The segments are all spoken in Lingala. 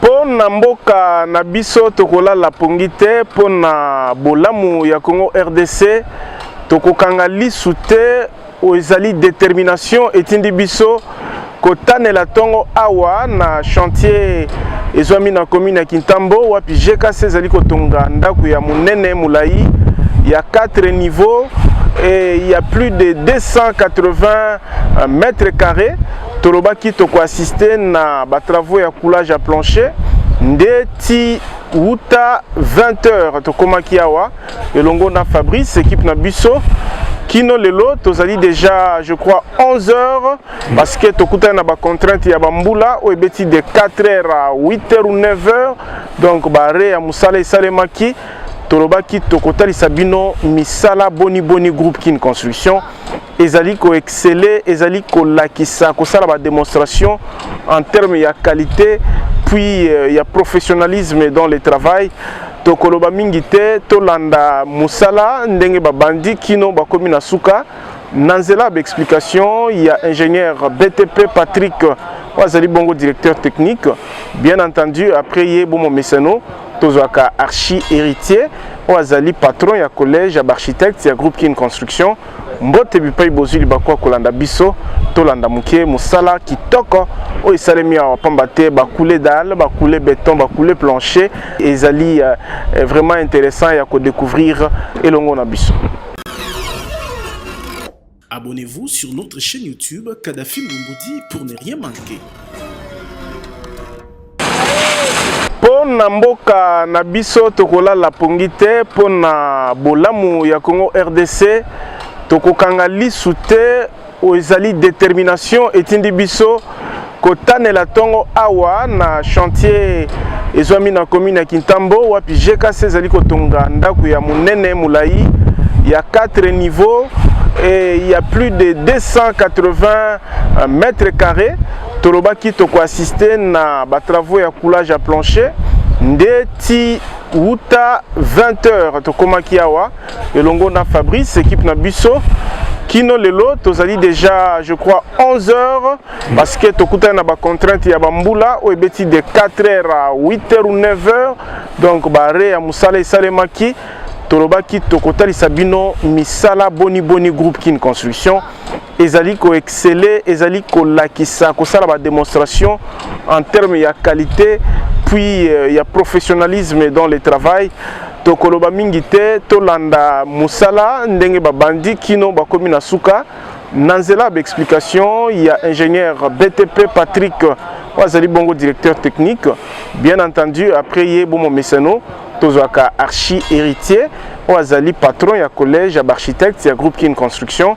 mpo na mboka na biso tokolala pongi te mpo na bolamu ya congo rdc tokokanga lisu te oyo ezali determination etindi biso kotanela ntongo awa na chantier ezwami na commune ya kintambo wapi gkc ezali kotonga ndako ya monene molai ya 4 niveau et il y a plus de 280 mètres carrés Tolobaki toko assister na ba travaux ya coulage ya plancher nde ti wuta 20 heures tokomaki awa elongo na Fabrice équipe na biso kino lelo tozali déjà je crois 11 heures parce que tokutani na ba contrainte ya bambula oyo ebeti de 4 heures à 8 heures ou 9 heures donc bare ya mosala esalemaki tolobaki tokotalisa bino misala boni boni groupe kin construction ezali ko exceller ezali kolakisa kosala ba demonstration en terme ya qualité puis euh, ya professionnalisme dans le travail tokoloba mingi te tolanda mosala ndenge babandi kino bakomi na suka na nzela ya baexplication ya ingénieur btp patrick oyo azali bongo directeur technique bien entendu après ye bomo mesano tozwaka archi héritier oyo azali patron ya collège ya baarchitecte ya groupe kin construction mbote bipai bozwi libaku ya kolanda biso tolanda moke mosala kitoko oyo esalemi awa pamba te bakule dal bakule beton bakule plancher ezali euh, vraiment intéressant ya kodécouvrir elongo na biso Abonnez-vous sur notre chaîne YouTube Kadhafi Mbumbudi pour ne rien manquer. mpo na mboka na biso tokolala pongi te mpo na bolamu ya congo rdc tokokanga lisu te oyo ezali determination etindi biso kotanela ntongo awa na chantier ezwami na commune ya kintambo wapi gkc ezali kotonga ndako ya monene molai ya 4 niveau et il y a plus de 280 mètres carrés Tolobaki toko assister na ba travaux ya coulage ya plancher nde ti wuta 20 heures tokomaki awa elongo na Fabrice équipe na biso kino lelo tozali déjà je crois 11 heures parce que tokutani na ba contrainte ya bambula oyo ebeti de 4 heures à 8 heures ou 9 heures donc bare ya mosala esalemaki tolobaki tokotalisa bino misala boni boni groupe kin construction ezali ko exceller ezali kolakisa kosala ba demonstration en terme ya qualité puis euh, ya professionnalisme dans le travail tokoloba mingi te tolanda mosala ndenge babandi kino bakomi na suka na nzela ya baexplication ya ingénieur btp patrick oyo azali bongo directeur technique bien entendu après ye bomo mesano tozwaka archi héritier oyo azali patron ya collège ya baarchitecte ya groupe kin construction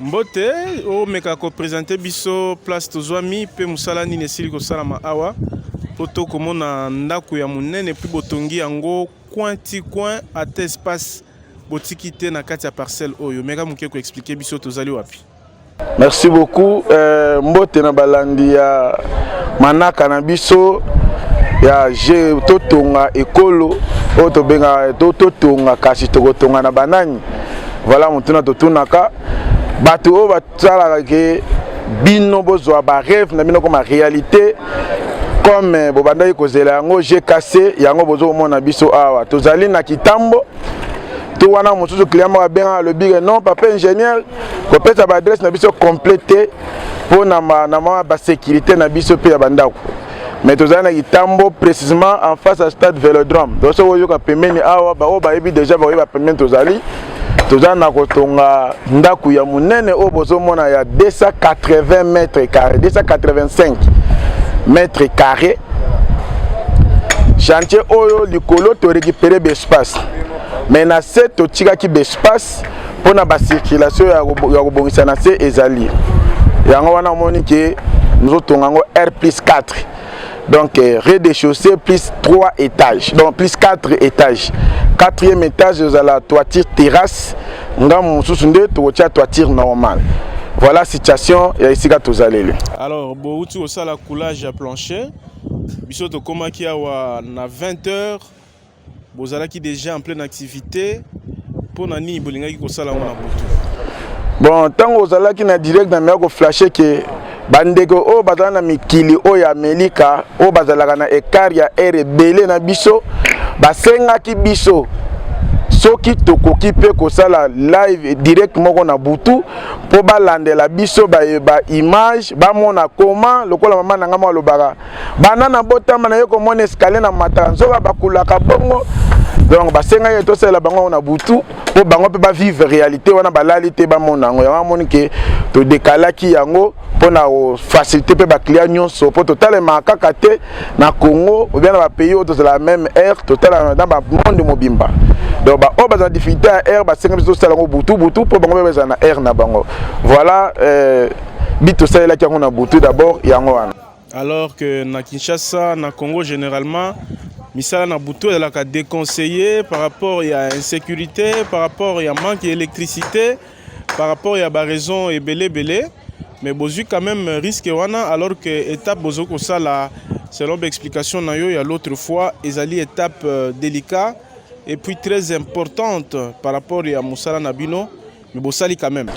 Mbote, omeka ko presenter biso place tozwami mpe mosala nini esili kosalama awa mpo tokomona ndako ya monene mpe botongi yango coin ti coin ata espace botiki te na kati ya parcelle oyo. Meka moke ko expliquer biso tozali wapi. Merci beaucoup euh, mbote na balandi ya manaka na biso ya je totonga ekolo oyo tobengaka totonga kasi tokotonga na banani Voilà motuna totunaka bato oyo basalaka ke bino bozwa bareve na bino koma réalité comme eh, bobandaki kozela yango je casse yango bozo komona biso awa tozali na kitambo to wana mosusu client moko abengaka alobi ke non papa ingénieur kopesa baadresse na biso complete te mpo na basécurité na biso mpe ya bandako mais tozali na kitambo précisément en face ya stade velodrome donc soki oyoka pembeni awa baoyo bayebi déjà bakoyeba pembeni tozali toza na kotonga ndako ya monene oyo bozomona ya 280 mètre carré 285 mètre carré chantier oyo likolo torécupere baespace mais na se totikaki baespace mpo na bacirculation ya kobongisa na se ezali yango wana omoni ke mozotonga yango r plus 4 donc euh, rez de chaussée plus 3 étages donc plus 4 étages quatrième étage ezala toiture terrasse ngambo mosusu nde tokotia toiture normale voilà situation ya esika tozaleli alors bouti kosala coulage ya plancher biso tokomaki awa na 20 heures bozalaki deja en pleine activité mpo na nini bolingaki kosala yango na butu bon ntango ozalaki na direct na meya koflashe ke bandeko oyo bazala na mikili oyo ya amelika oyo bazalaka na ekart ya aire ebele na biso basengaki biso soki tokoki mpe kosala live direct moko na butu mpo balandela biso baye ba image bamona koma lokola mama na ngai mwa alobaka banda na botama na ye komona escalier na mataka nzoka bakulaka bongo donc basengaki ye tosalela bango yango na butu mpo bango mpe bavivre réalité wana balali te bamona yango yango amoni ke todekalaki yango mpo na kofacilité mpe baclient nyonso mpo totalemaka kaka te na congo obia na bapays oyo tozalaka meme aire totalaka na bamonde mobimba donc baoyo bazala difficulté ya aire basengeli biso tosala yango butu butu mpo bango mpe bazala na aire na bango voilà euh, bit tosalelaki yango na butu d'abord yango wana alors que na Kinshasa na Congo généralement misala na butu ezalaka déconseillé par rapport ya insécurité par rapport ya manque ya électricité par rapport ya baraison ebele ebele mais bozwi quand même risque wana alors que étape bozo kosala selon baexplication na yo ya l'autre fois ezali étape euh, délicat et puis très importante par rapport ya mosala na bino mais bosali quand même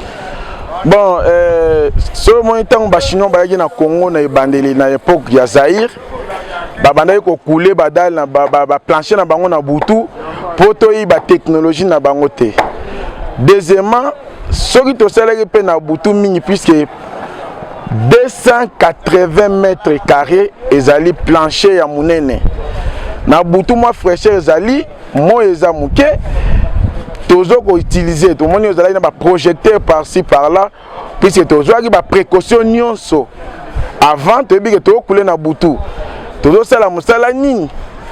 bon euh, soki omoni ntango bachinois bayaki na congo na ebandeli na époque ya zaire babandaki kokule badale na baplanche na bango na butu mpo toyiba technologie na bango te deuxièmement soki tosalaki mpe na butu mingi puiske 280 mètres carré ezali plancher ya monene na butu mwa fraîcheur ezali moi eza moke tozo koutilize tomoni ozalaki na baprojecteur parci par là puisque tozwaki baprécaution nyonso avant toyebi ke tokule na butu tozosala mosala nini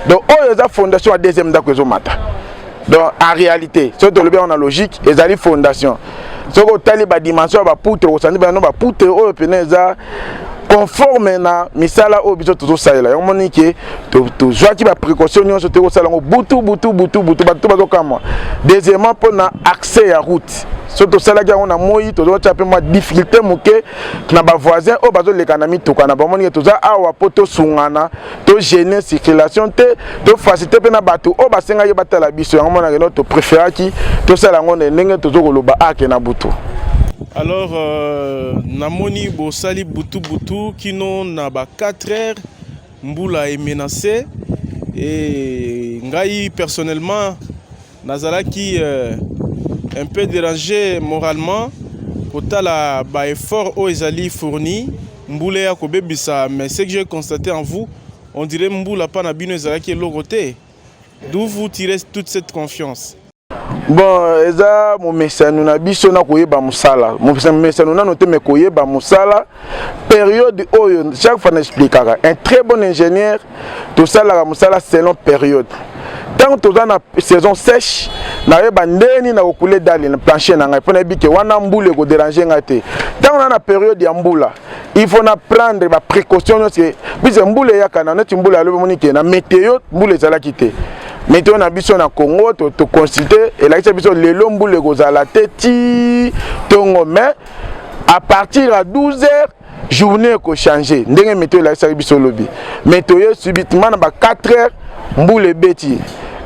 donc oyo eza fondation ya deuxième ndako ezomata donc en réalité soki tolobi yango na logique ezali fondation soki otali badimension ya bapoutre okosandi bano bapoutre oyo mpena eza conforme na misala oyo biso tozosalela yango moni ke tozwaki baprécaution nyonso te kosala yango butu butu butu butu bato bazokamwa deuxièmement mpo na accès ya route so tosalaki yango na moi tozotya mpe mwa difficulté moke na bavoisin oyo bazoleka na mituka na bamoni ke toza awa mpo tosungana to gene circulation te to facilité mpe na bato oyo basengaki batala biso yango monake no topréféraki tosala yango na ndenge tozo koloba ake na butu alors euh, namoni bosali butu butu kino na ba 4 heures mbula emenace e ngai personnellement Nazalaki euh, un peu dérangé moralement kotala ba effort oyo ezali fourni mbula ya kobebisa mais ce que j'ai constaté en vous on dirait mbula pa na bino ezalaki eloko te d'où vous tirez toute cette confiance bon eza momesano na biso na koyeba mosala momesano nano te me koyeba mosala période oyo chaque fois na explikaka un très bon ingénieur tosalaka mosala selon période ntango toza na saison sèche nayeba ndeni na kokule dali na planche na ngai mpo nayebi ke wana mbula ekoderange ngai te ntango na na periode ya mbula il faut na prendre ba précaution nyonso puise mbula eyaka na neti mbula yalobi omoni ke na météo mbula ezalaki te meteo na biso na congo toconsulte elakisa biso lelo mbula ekozala te ti ntongo mai à partir ya 12 heures journée ekochange ndenge meto elakisaki biso lobi mais toye subitement na ba 4 heures mbula ebeti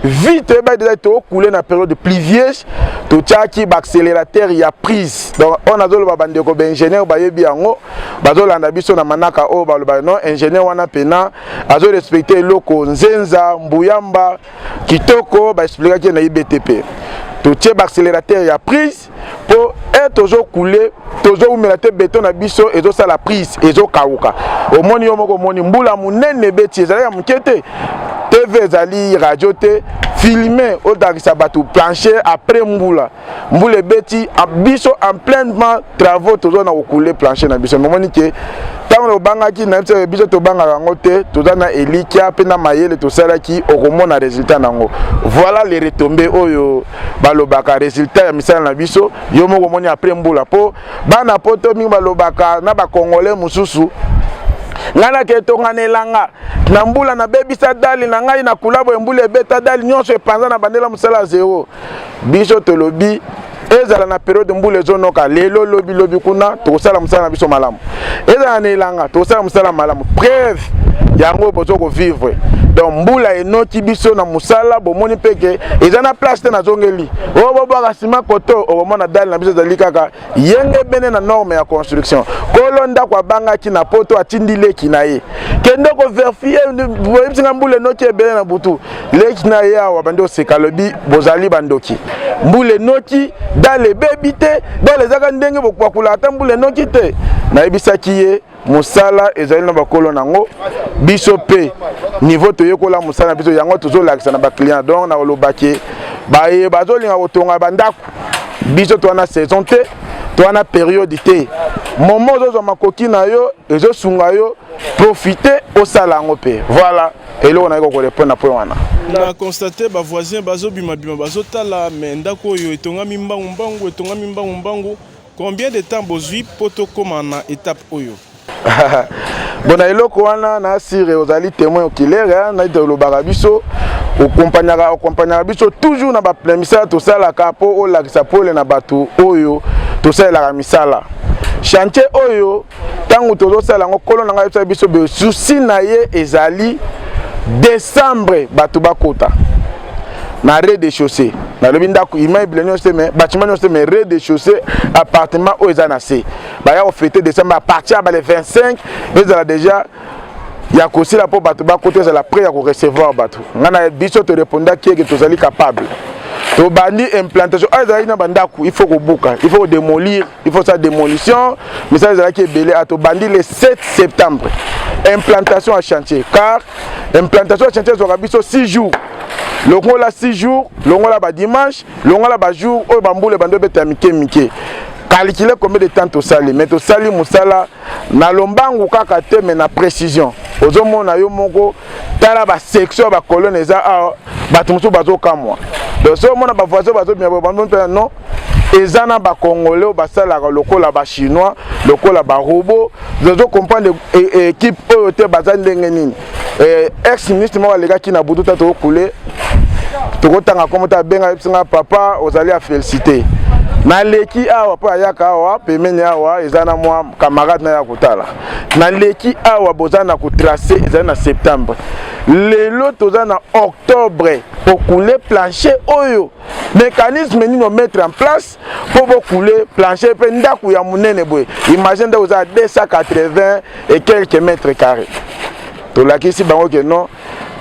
vite toyebaki deja tokule na période pluvieuse totyaki baaccélérateur ya prise donc oyo nazoloba bandeko baingénieur bayebi yango bazolanda biso na manaka oyo balobaka non ingénieur wana mpena azorespecte eloko nzenza mbuyamba kitoko baexplikaki na ibtp totie baaccélérateur ya prise po e tozo kule tozo umela te beton na biso ezo sala prise ezo kauka omoni yo moko omoni mbula munene beti ezali ya moke te tv ezali radio te filme otakisa bato plancher après mbula mbula ebeti biso en pleinement travaux toza na kokule plancher na biso momoni ke ntango tobangaki nayebi te biso tobangaka yango te toza na elikya mpe na mayele tosalaki okomona résultat na yango voilà le retombe oyo balobaka resultat ya misala na biso yo moko omoni après mbula mpo bana poto mingi balobaka na bacongolais mosusu ngai naketonga na elanga na mbula nabebisa dali na ngai na kulabo embula ebeta dali nyonso epanza na bandela mosala ya zero biso tolobi ezala na periode mbula ezonoka lelo lobi lobi kuna tokosala mosala na biso malamu ezala na elanga tosala mosala malamu preuve yango bozo kovivre donc mbula enoki biso na mosala bomoni mpe ke eza na place te nazongeli oyo oh, bobwaka nsima koto okomona oh, dale na biso ezali kaka yenge bene na norme ya construction kolo ndako abangaki na poto atindi leki na ye kende koverifie boyebisi nga mbula enoki ebele na butu leki na ye awa bandi oseka alobi bozali bandoki mbula enoki dale ebebi te dale ezaka ndenge bopakolaka ata mbula enoki te nayebisaki ye mosala ezali na bakolo na yango biso mpe niveau toyekola mosala na biso yango tozolakisa na baclient donc nakolobaki baye bazolinga kotonga bandako biso towana saison te towana periode te momo ozozwa makoki na yo ezosunga yo profite osala yango mpe voilà eloko naye kokorepondre na point wana na constate bavoisin bazobimabima bazotala me ndako oyo etongami mbangu mbangu etongami mbangu mbangu combien de temps bozwi mpo tokóma na étape oyo bona eloko wana na sire ozali témoin okilere naite olobaka biso okompagnaka okompagnaka biso toujours na bamisala tosalaka mpo olakisa pole na bato oyo tosalelaka misala chantier oyo ntango tozosala yango nkolo na ngai ayebisaki biso boye susi na ye ezali décembre bato bakota na rez de chaussée nalobi ndako immeuble nyonso te mais bâtiment nyonso te mais rez de chaussée appartement oyo eza na se baya kofete décembre à partir ya bale 25 ezala déjà ya kosila mpo bato bakota ezala près ya korecevoir bato ngai na biso torepondaki eke tozali capable tobandi implantation oyo ezalaki na bandako il faut kobuka il faut kodemolir il faut sa démolition misala ezalaki ebele atobandi le 7 septembre implantation ya chantier car implantation ya chantier ezwaka biso 6 jours longola 6 jours longola badimanche longola bajour oyo bambula ebandi obeta ya mike mike calcule combien de temps tosali mais tosali mosala na lombangu kaka te mais na précision ozomona yo moko tala basection ya bacolone eza awa bato mosusu bazokamwa donc soki omona bavoisin bazobima boye bamipena non eza na bacongolais oyo basalaka lokola bachinois lokola barobo zozo comprendre équipe e, oyo te baza ndenge nini e, ex ministre moko alekaki na butu ta tokokule tokotanga nkombo te abenga ayebisi nga papa ozali ya félicité naleki awa mpo ayaka awa pemene awa eza na mwa camarade na ya kotala naleki awa boza na kotrace ezali na septembre lelo toza na octobre okule planche oyo mécanisme nini omettre en place mpo bokule plancher mpe ndako ya monene boye imagine ndako eza 280 et quelques mètres carré tolakisi bango ke non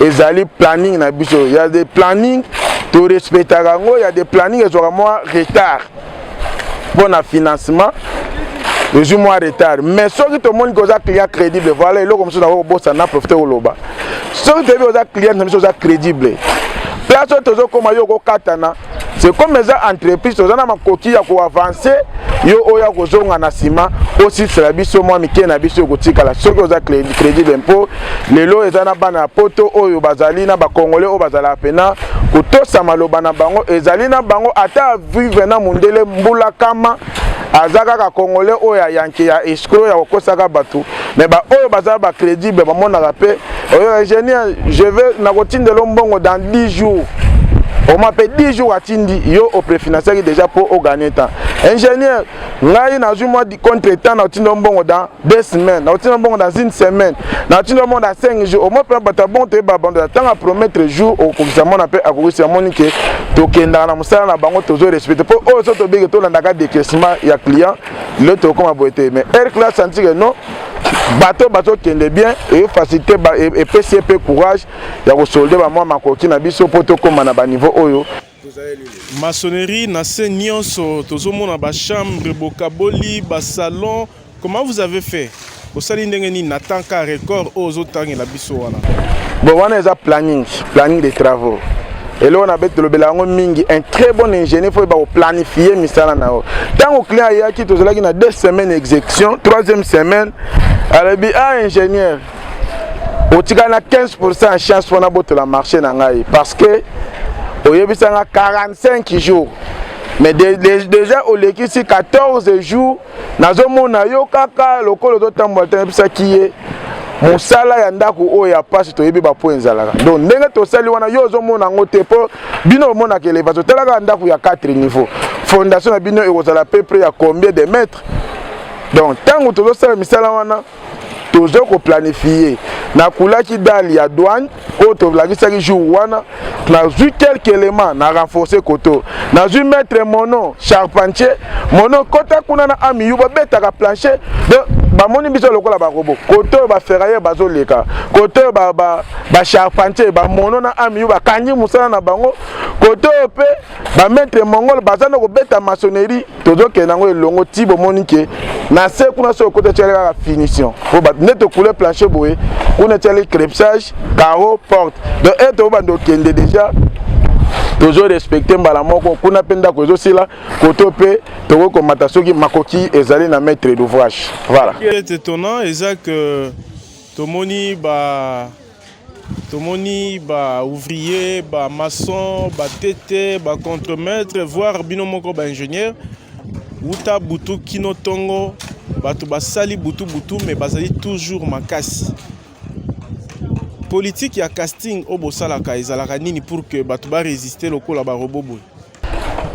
ezali planning na biso ya de planning torespectaka yango ya de planning ezwaka mwa retard mpo na financement tozwi mwa retard mais soki tomoni ke oza client crédible voilà eloko mosusu nako kobosana na profite koloba soki toyebi oza client na biso oza crédible place oyo tozokoma yo okokatana c'est comme eza entreprise toza na makoki ya koavanse yo oyo akozonga na nsima osisela biso mwa mike na biso ekotikala soki oza crédible mpo lelo eza na bana ya poto oyo bazali na bakongole oyo bazalaka mpena kotosa maloba na bango ezali na bango ata vive na mundele mbula kama aza kaka congolais oyo ya yanke ya escro ya kokosaka bato me baoyo baza bacrédible bamonaka mpe oyo ingénieur je veux nakotindela mbongo dans 10 jours oma mpe 10 jours atindi yo oprefinanciaki déjà mpo oganie temps ingénieur ngai nazwi mwa contre temps na otinda mbongo dans deux semaines nauti na mbongo dans une semaine nauti na mbongo dans cinq jours omoi mpe bato ya bongo toyeba bando ya ntango apromettre jour okokisa mwana mpe akokisi amoni ke tokendaka na mosala na bango tozo respecte mpo oyo so tobenge tolandaka décaissement ya client lelo tokokoma boye te mais air classe antike non bato bazokende bien efacilité epesi ye mpe courage ya kosolde bamwa makoki na biso mpo tokóma na baniveau oyo Maçonnerie na se nyonso tozomona ba chambre bokaboli ba salon comment vous avez fait osali ndenge nini na temps ka record oyo ozotangela biso wana bon wana eza planning planning des travaux eloko na beti tolobela yango mingi un très bon ingénieur fo yeba koplanifie misala na yo ntango client ayaki tozalaki na deux semaines exécution troisième semaine alobi ah ingénieur otika na 15 ya chance wana botola marché na ngai parce que oyebisa nga 45 jours mais de, de, déjà olekisi 14 jours nazomona yo kaka lokola ozotambola te nayebisaki ye mosala ya ndako oyo ya mpasi toyebi bapo ezalaka donc ndenge tosali wana yo ozomona yango te mpo bino omonaka elevation otalaka ndako ya 4 niveau fondation na bino ekozala peu près ya combien de mètre donc ntango tozosala misala wana toza koplanifie nakulaki dale ya douane oyo tolakisaki jour wana nazwi quelque élément na renforce koto nazwi maître mono charpentier mono kota kuna na amiyu babetaka plancher donc bamoni biso lokola barobo kote oyo baferrailleur bazoleka kote oyo bacharpentier ba, ba bamono na amiyu bakangi mosala na bango kote oyo mpe ba maître mongol baza na kobeta maçonnerie tozokende yango elongo ti bomoni ke na se kuna soki okota etyali kaka finition po bato nde tokule planche boye kuna etyali crepsage caro porte donc ete obanda okende déjà tozo respecte mbala moko kuna mpe ndako ezosila koto mpe tokoki komata soki makoki ezali na maître d'ouvrage voilà ete tona eza que tomoni ba tomoni ba ouvrier ba maçon ba tete ba contremaître voire bino moko ba ingénieur wuta butu kino ntongo bato basali butu butu me bazali toujours makasi politike ya casting oyo bosalaka ezalaka nini pour que bato baresiste lokola barobo boye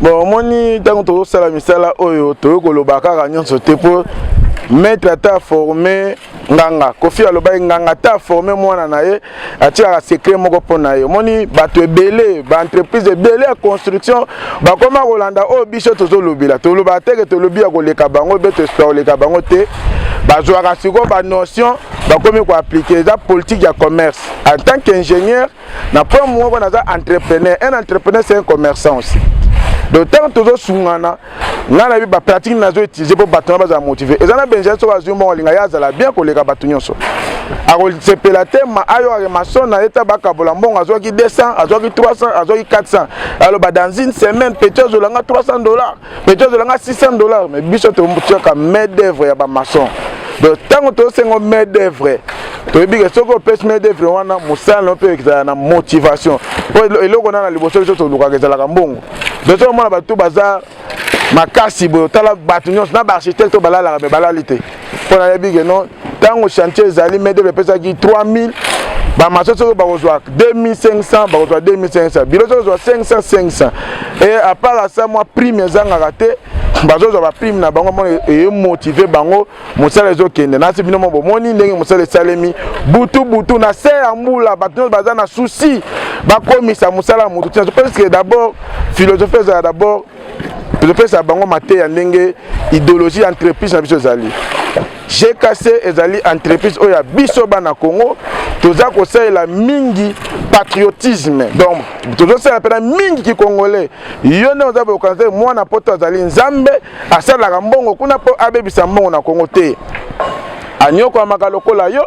bon omoni ntango tozosala misala oyo toyei koloba kaka nyonso te mpo maître ata aforme nganga kofi alobaki nganga ata aforme mwana na ye atikaka secret moko mpo na ye omoni bato ebele baentreprise ebele ya construction bakoma kolanda oyo biso tozolobela tolobaka teke tolobi ya koleka bango be tosuka koleka bango te bazwaka sikoyo banotion bakomi koaplike eza politike ya commerce en tant qu'ingénieur na point moko naza entrepreneur un entrepreneur c'est un commerçant aussi donc ntango tozosungana ngai nayebi bapratique nazo utilise mpo bato na bazala motive eza na benjamin soki azwi mbongo alinga ye azala bien koleka bato nyonso akosepela te ayokake maso na ye ta bakabola mbongo azwaki 200 azwaki 300 azwaki 400 aloba dans une semaine petit azolanga 300 dollars mais tu azolanga 600 dollars mais biso totiaka main d'œuvre ya ba maçon donc tango tosengo main d'œuvre toyebi ke soki opesi main d'œuvre wana mosala no mpe ezala na motivation po eloko na na liboso biso tolukaka ezalaka mbongo donc soki omona bato baza makasi boye otala bato nyonso na baarchitecte oyo balalaka me balali te mpo nayebi ke non ntango chantier ezali medeve epesaki 3000 bamaso soki bakozwa 2500 bakozwa 2500 bilo soki ozwa 500 500 e apart asa mwa prime ezangaka te bazozwa baprime na bango mona emotive bango mosala ezokende nasi bino mo bomoni ndenge mosala esalemi butu butu na se ya mbula bato nyonso baza na susi bakomisa mosala ya moto ntina parce que d'abord philosophie ezala d'abord tozopesa bango mateya ndenge ideologie ya entreprise na biso ezali gkc ezali entreprise oyo ya biso bana congo toza kosalela mingi patriotisme donc tozosalela mpena mingi kikongole yo nde oza bokanisa te mwana poto azali nzambe asalelaka mbongo kuna mpo abebisa mbongo na congo te anyokwamaka lokola yo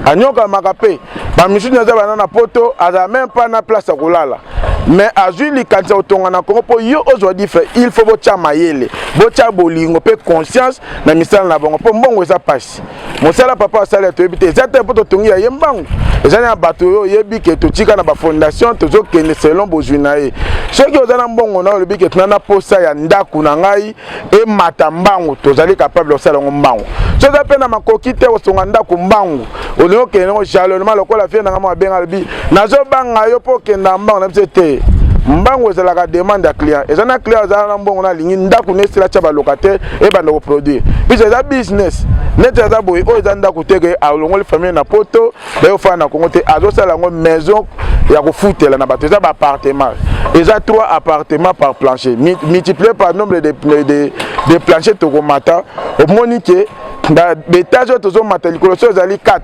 anyokwamaka mpe bamisusu naza bana na poto azala meme mpa na place ya kolala mais azwi likanisi ya kotonga na kongo mpo yo ozwa difre il faut botya mayele botya bolingo mpe conscience na misala na bango mpo mbongo eza mpasi mosala papa asali ya toyebi te eza te mpo totongi ya ye mbangu eza na bato oyo oyebi ke totika na bafondation tozokende selon bozwi na ye soki oza na mbongo na oyo olobi ke tuna na posa ya ndako na ngai emata mbangu tozali capable kosala yango mbangu so eza mpe na makoki te kosonga ndako mbangu olingi okende yango jalonema lokola vie nanga mwa abenga alobi nazobanga yo mpo okenda mbangu na biso te mbangu ezalaka demande ya client eza na client azala na mbongo nalingi ndako na esila tya balocataire ebanda koproduire biso eza business neti aza boye oyo eza ndako teke alongoli famille na poto bayo fana na Congo te azosala yango maison ya kofutela na bato eza ba appartement eza trois appartement par plancher multiplier par nombre de, de, de, de plancher tokomata omoni ke na betage oyo tozomata likolo so ezali 4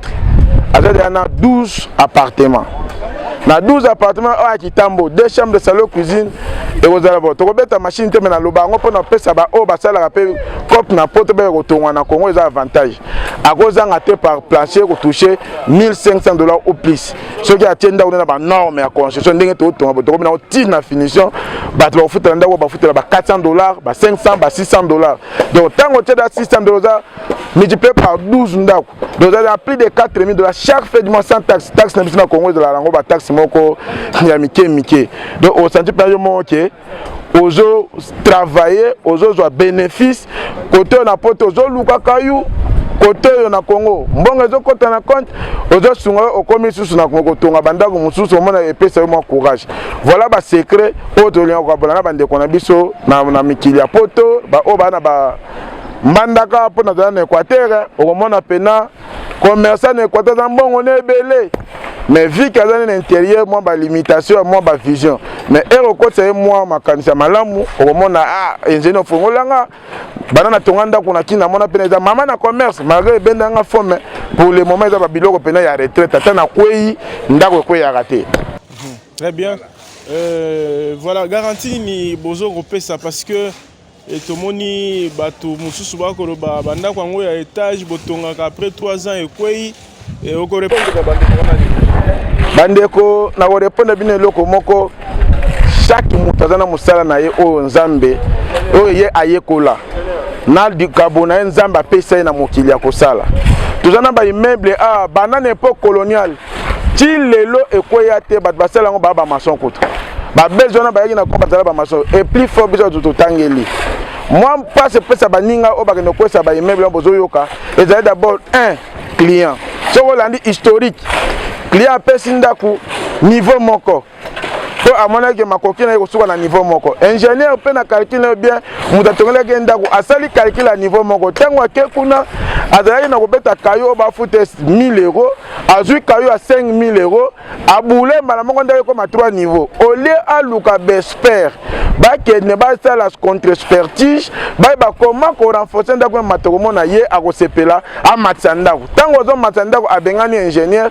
aza deya na 12 appartement na 12 appartement oyo ya kitambo deux chambre de salon cuisine ekozala bo tokobeta machine te me naloba yango mpo na kopesa baoyo basalaka mpe cope na poto mpe kotongwa na congo eza avantage akozanga te par plancher ekotouche 1500 dollars ou plus soki atie ndako nde na banorme ya construction ndenge totonga tokomi nango ti na finition bato bakofutela ndako bafutela ba 400 dollars ba 500 ba 600 dollars donc ntango otie da 600 dollars oza multiplié par 12 ndako donc oza na plus de 4000 dollars chaque fait du mois sans taxe taxe na biso na congo ezalaka yango bataxe moko ya mike mike donc osanti mpe yo moko ke ozo travailler ozozwa bénéfice kote oyo na poto ozolukaka yo kote oyo na congo mbongo ezokɔta na compte ozosunga yo okomi lisusu na kotonga bandako mosusu omona epesa yo mwa courage voilà basecret oyo tolinga kokabola na bandeko na biso na, na mikili ya poto baoyo baa na ba mbandaka mpo nazala na équateur okomona mpena commerçant na equateur aza mbongo na ebele mais vie ke aza nde na intérieur mwa balimitation ya mwa bavision mais ere okotisa ye mwa makanisi ya malamu okomona ah, ingénieur ofongolanga bana natonga ndako na kina mona mpena eza mama na commerce malgré ebenda nga fo mais pour le moment eza babiloko mpena ya retraite ata nakwei ndako ekweyaka te très bien euh, voilà garantie nini bozo kopesa parce que Et tomoni bato mosusu bakoloba bandako yango ya etage botongaka après 3 ans ekwei okorepondre bandeko wana bandeko na korepondre bino eloko moko chaque moto aza na mosala na ye oyo nzambe oyo ye ayekola na likabo na ye nzambe apesa ye na mokili ya kosala toza na baimmeuble a ah, banda na epoque coloniale ti lelo ekweya te bato basala yango baa bamason kutu babezi wana bayaki na ko bazala bamason eplis fo biso bato totangeli mwa mpasi epesa baninga oyo bakende kokwesa baimmeuble bozoyoka ezali d'abord un client soki olandi historique client apesi ndako niveau moko mpo amonaki ke makoki na ye kosuka na niveau moko ingénieur mpe na calcul na ye bien moto atongelaki ye ndako asali calcul ya niveau moko ntango ake kuna azalaki na kobeta kayo oyo bafuta 1000 euro azwi kayo ya 5000 euro aboule mbala moko ndako ekoma 3 niveau au lieu aluka bespere bakende basala contre spertige bayeba koma korenforce ndako ya mato komona ye akosepela amatisa ndako ntango azomatisa ndako abengani ingénieur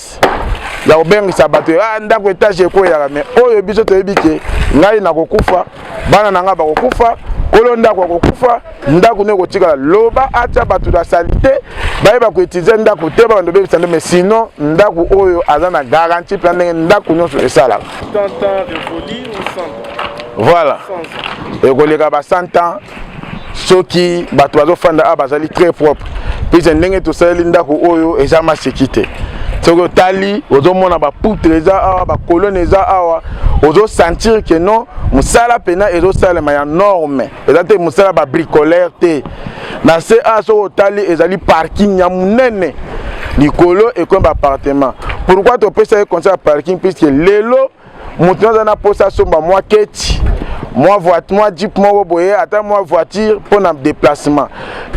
contexte ya kobengisa bato ah, ndako etage ekweyaka me oyo biso toyebi ke ngai nakokufa bana na ngai bakokufa kolo ndako akokufa ndako nde ekotikala loba atya bato na salite bayeba koutilize ndako te babanda obebisa nde mais sinon ndako oyo aza na garantie mpe ndenge ndako nyonso esalaka voilà ekoleka ba 100 ans soki bato bazofanda awa bazali très propre puise ndenge tosaleli ndako oyo eza maseki te soki otali ozomona bapoutre eza awa bakolone eza awa ozosentir ke non mosala mpena ezosalema ya norme eza te mosala babricolaire te na se a soki otali ezali parking ya monene likolo ekomi baappartement pourquoi topesa ye conseil ya parking puiske lelo moto nyonso aza na mposa asomba mwa keti mwa voiture mwa jeep moko boye ata mwa voiture mpo na déplacement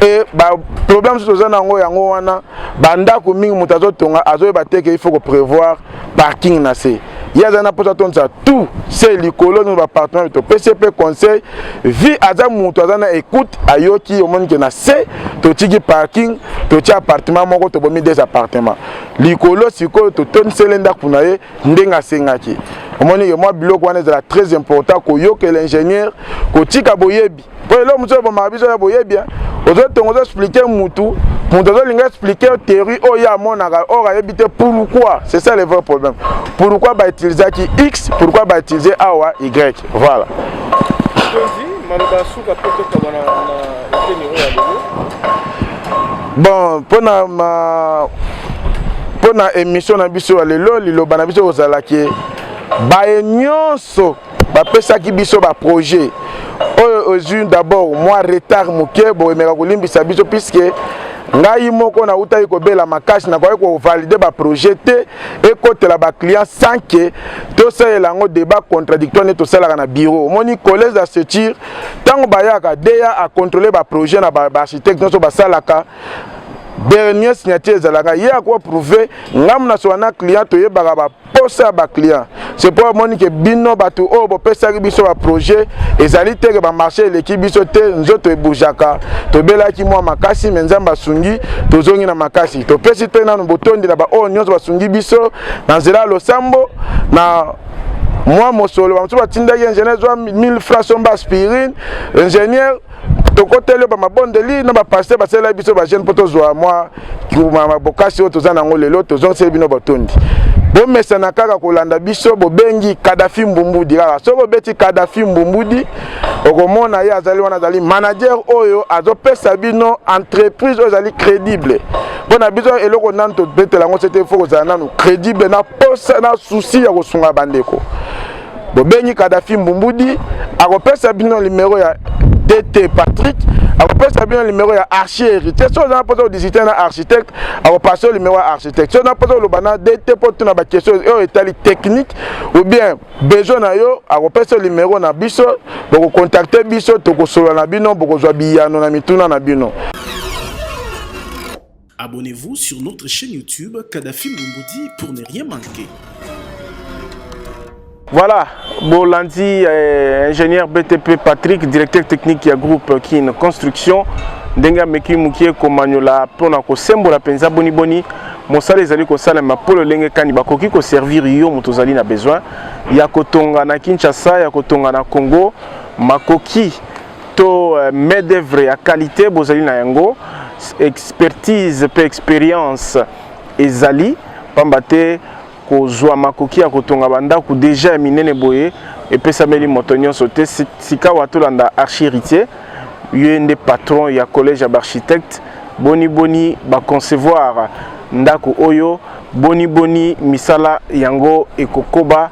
e baproblème mosusu toza na yango yango wana bandako mingi moto azotonga azoyeba te ke il faut koprévoir parking na se ye aza na mposa atondisa tout se likolo nino bapartenare topesi mpe conseil vi aza moto aza na écoute ayoki omoni ke na se totiki parking totia appartement moko tobomi des appartement likolo sikoyo totondisele ndako na ye ndenge asengaki omoni ke mwa biloko wana ezala très important koyokela ingénieur kotika boyebi mpo eloko mosusu ebomaka biso ya boyebi ozotonga ozoexplike mutu moto azolinga explike théorie oyo ye amonaka or ayebi te pourquoi c'est ça le vrai problème pourquoi bautilisaki x pourquoi bautilize awa y voilà maloba ya suka mpe tokabana na eteni oyo ya lelo bon mpo na ma mpo na émission na biso ya lelo liloba na biso kozala ke baye nyonso bapesaki biso baprojet oyo ozwi d'abord mwa retard moke boyemeka kolimbisa biso puiske ngai moko nautaki kobela makasi nakoki kovalide baprojet te ekotela baclient sans ke tosalela yango débat contradictoire nde tosalaka na bureau omoni collège d'assecture ntango bayaka deya akontrole baprojet na baarchitecte nyonso basalaka dernier signature ezalaka ye akoa prouve ngambo na sola na client toyebaka baposa ya baclient c'est mpo amoni ke bino bato oyo oh, bopesaki biso baprojet ezali te ke bamarché eleki biso te nzoto ebujaka tobelaki mwa makasi me nzambe asungi tozongi na makasi topesi mpe nano botondi na baoyo oh, nyonso basungi biso na nzela ya losambo na mwa mosolo bamosusu batindaki ingénieur zwa 1000 francs somba aspirine ingénieur tokoteli yo bamabondeli na bapaster basalelaki biso bajeune mpo tozwa mwa bokasi oyo toza nango lelo tozongiseli bino botondi bomesana kaka kolanda biso bobengi kadafi mbumbudi kaka soki obeti kadafi mbumbudi okomona ye azali wana azali manager oyo azopesa bino entreprise oyo ezali crédible mpo na biso eloko nanu tobetela yango sete fo kozala nanu crédible na posa na souci ya kosunga bandeko bobengi kadafi mbumbudi akopesa bino limero ya dt patrick akopesa bino limero ya archi héritier soki oza na mposa odisite na architecte akopasa yo limero ya architecte soki oza na mposa oloba na dt mpo tuna bakestion oyo etali technique ou bien besoin na yo akopesa yo limero na biso bokokontakte biso tokosolola na bino bokozwa biyano na mituna na bino Abonnez-vous sur notre chaîne YouTube Kadhafi Mumboudi pour ne rien manquer. Voilà, Bolandi, euh, ingénieur BTP Patrick, directeur technique du groupe Kin Construction. ndenge ameki mokie komanyola mpo na kosembola mpenza boniboni mosala ezali kosalema mpo lolenge kani bakoki koservir yo moto ozali na besoin ya kotonga na kinshasa ya kotonga na congo makoki to euh, main d'œuvre ya qualité bozali na yango expertise mpe experience ezali mpamba te kozwa makoki ya kotonga bandako deja ya minene boye epesameli moto nyonso te sikawa tolanda archiritier ye nde patron ya collège ya baarchitecte boni boni baconcevoir ndako oyo boni boni misala yango ekokoba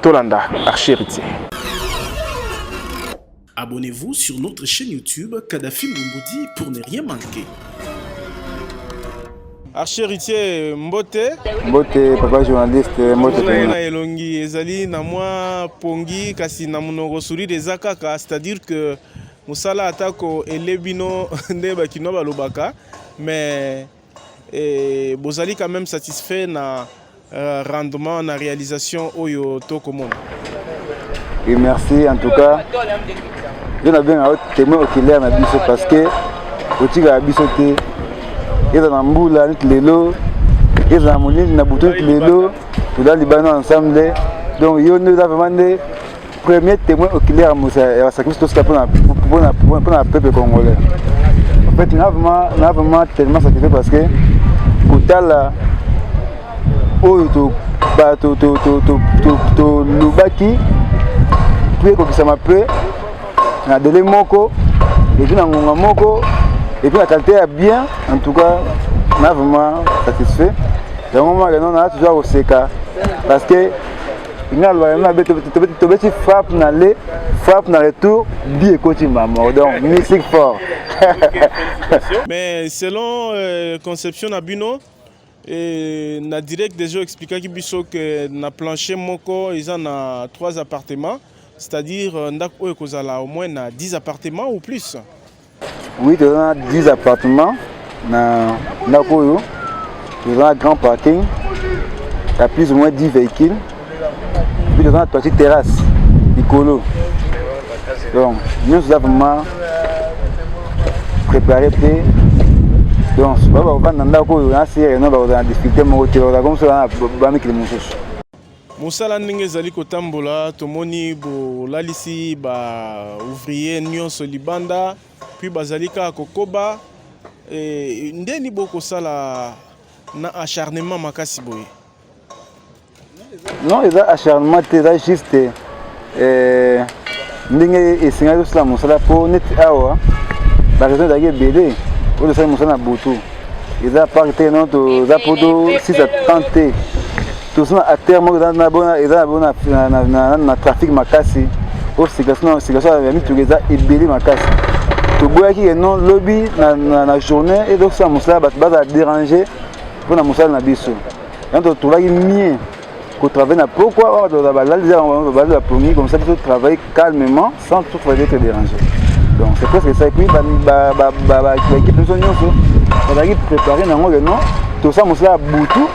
tolanda archiritier Abonnez-vous sur notre chaîne YouTube Kadhafi Mbumbudi pour ne rien manquer. Archer Ritier Mbote. Mbote, papa journaliste, Mbote. Na elongi ezali na mwa pongi kasi na monoko sourire eza kaka, c'est-à-dire que mosala atako elebino nde bakino balobaka mais Et bozali quand même satisfait na euh, rendement na réalisation oyo tokomona. Et merci en tout cas. Yo na bien témoin oculaire na biso parce que otika biso te eza na mbula neti lelo eza na molili na butu neti lelo toza libano ensemble donc yo nde eza vraiment nde premier témoin oculaire ya mosa ya basacrifice tosika mpona peuple congolais en fait na vraiment na vraiment tellement sacrifié parce que kotala oyo tolobaki mpe ekokisama mpe na dele moko epuis na ngonga moko epuis na qualité ya bien en tout cas na vraiment satisfait yango maka nona toza koseka parce que nga loba na be tobeti frappe na le frappe na retour bi ekoti mamo donc musique fort mais selon euh, conception na bino et na direct déjà expliquaki biso que na plancher moko eza na trois appartements c'est-à-dire euh, ndako oyo ekozala au moins na 10 appartements ou plus Oui, toza na 10 appartement na ndako oyo toza na grand parking ya plus ou moins 10 véhicules puis toza na toiti terrasse likolo donc nyonso eza vraiment préparé mpe donc baba bavanda na ndako oyo na sere no bakozala na difficulté moko te bakozala komosala na bamikili mosusu Mosala ndenge ezali kotambola, tomoni bolalisi ba ouvrier nyonso libanda, puis bazali kaka kokoba. E, ndeni bokosala na acharnement makasi boye? Non, eza acharnement te, eza juste eh, ndenge esengaki osala mosala mpo neti awa baraison ezalaki ebele oyo tosali mosala na butu eza park te no toza mpo to 6 à 30 te toza na atere moko eza na bona eza na bona na trafic makasi oyo circulation ya mituka eza ebele makasi toboyaki ke non lobi na journée ezosala mosala bato bazala dérange mpo na mosala na biso yango totolaki mie ko travailler na pokwa wana bato balali za bango balali bapongi comme ça biso travailler calmement sans tout travailler être dérangé donc c'est presque ça epuis baéquipe biso nyonso bazalaki préparé nango ke non tosa mosala ya butu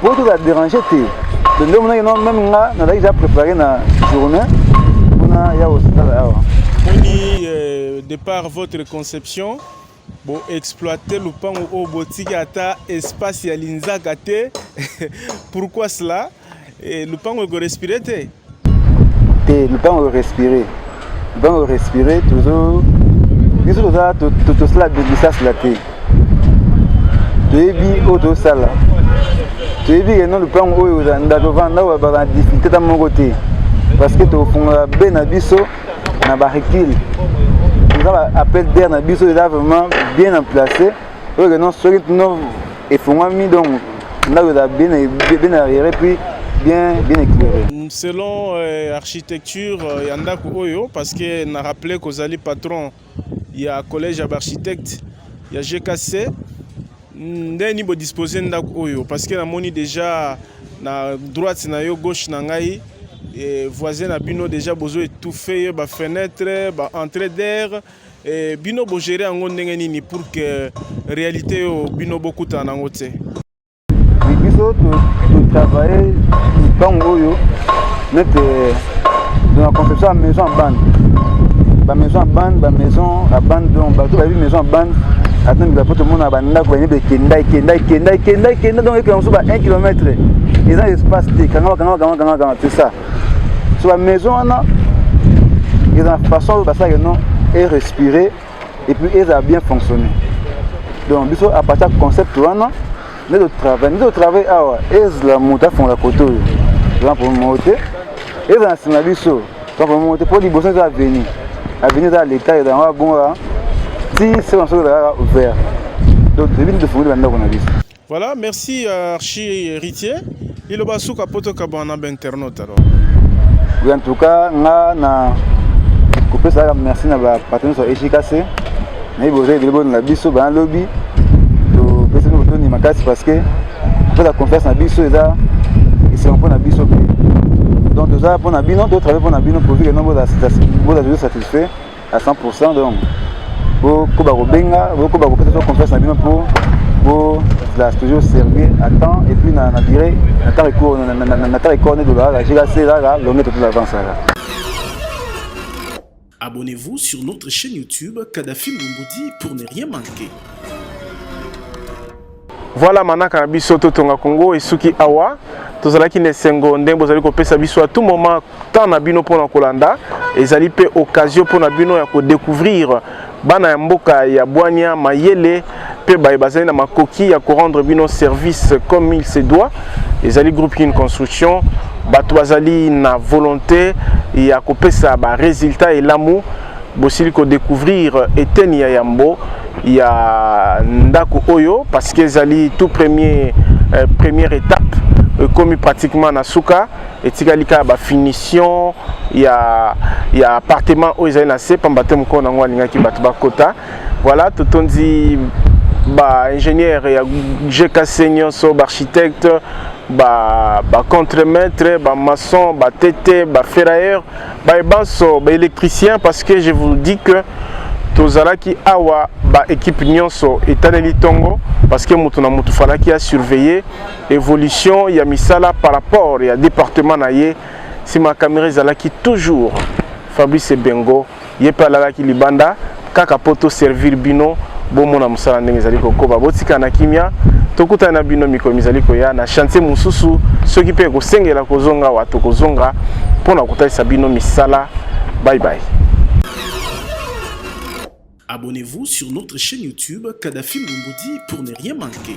po tozala dérange te nde omonaki no meme nga nazalaki ja préparé na journée mpona ya kosala awa moni euh, de par votre conception bo exploiter lupangu oyo botiki ata espace ya linzaka te pourquoi cela e, lupangu eko respire te te lupangu eko respire lupangu eko respire tozo biso toza tosala bisasela te toyebi oyo tosala toyebi ke no lupangu oyo ndako vanda oyo bazala difficulté ta moko te parce que tokofungola be na biso na ba recul eza ba appel d'air na biso eza vraiment bien en place oyo ke non soki no efongwami donc ndako eza bien bien arrière puis bien bien éclairé selon euh, architecture euh, ya ndako oyo parce que na rappelé kozali patron ya collège ya baarchitecte ya GKC ndenge nini bodispose ndako oyo parce que namoni déjà na droite na yo gauche na ngai e, voisin na bino déjà bozo étouffe ye ba fenêtre ba entrée d'air e, bino bogere yango ndenge nini pour que réalité oyo bino bokutana nango te biso totravaille ntango oyo nete dans la conception ya maison ya bande bamaison ya bande bamaison ya bande donc bato bayebi maison ya bande ata mikila mpo tomona bandako bayebi ekenda ekenda ekenda ekenda ekenda donc ekenda mosusu ba 1 kilomètre eza espace te kangama kangama kangama kangama kangama c'est ça so bamaison wana eza na façon oyo basalaka non e respirer et puis eza bien fonctionner donc biso à partir ya concept wana nde totravaille nde totravaille awa ezala moto afongola kote oyo toza problème moko te ezala na nsima biso toza problème moko te mpo liboso eza aveni aveni eza leta ezala yango abonga ti se banso ezala kaka ouvert donc toyebi nde tofungoli bandako na biso Voilà, merci euh, Archi Héritier. Liloba suka poto kabana ba internaute alors. Oui, en tout cas, nga na kopesa kaka merci na ba partenaires ya HKC. Na yebi oza ebele boni na biso bana lobi. Topesi bino botoni makasi parce que kopesa confiance na biso eza esengo mpo na biso mpe. Donc toza mpo na bino, totravaille mpo na bino pourvu que non bozala satisfait. à 100% donc bokoba kobenga bokoba kopesa so confiance na bino mpo bozala toujours sérieux à temps et puis na durée na temps recours na temps recours nde tolaka jkc laka longue totu l'avancaka Abonnez-vous sur notre chaîne YouTube Kadhafi Mbumbudi pour ne rien manquer. Voilà manaka na biso totonga Congo esuki awa tozalaki na esengo ndenge bozali kopesa biso à tout moment temps na bino mpona kolanda ezali mpe occasion mpona bino ya kodécouvrir bana ya mboka ya bwania mayele mpe baye bazali na makoki ya korendre bino service comme il se doit ezali groupe kin construction bato bazali na volonté ya kopesa baresultat elamu bosili ko découvrir eteni ya yambo ya ndako oyo parce que ezali tout premier euh, première étape ekomi pratiquement na suka etikali kaka bafinition ya, ya appartement oyo ezali na se mpamba te mokolo na yango alingaki bato bakota voilà totondi baingénieur ya gkc nyonso baarchitecte bacontremaître ba bamaçon batete baferrailleur baye banso ba électricien parce que je vous dis que tozalaki awa ba équipe nyonso etaleli ntongo parce que moto na moto falaki ya surveiller évolution ya misala par rapport ya département na ye nsima ya camera ezalaki toujours fabrice bengo ye mpe alalaki libanda kaka mpo to servir bino bomona mosala ndenge ezali kokoba botika na kimia tokutana na bino mikolo mizali koya na chantier mosusu soki mpe ekosengela kozonga wa tokozonga mpo na kotalisa bino misala bye bye Abonnez-vous sur notre chaîne YouTube Kadhafi Mbumbudi pour ne rien manquer.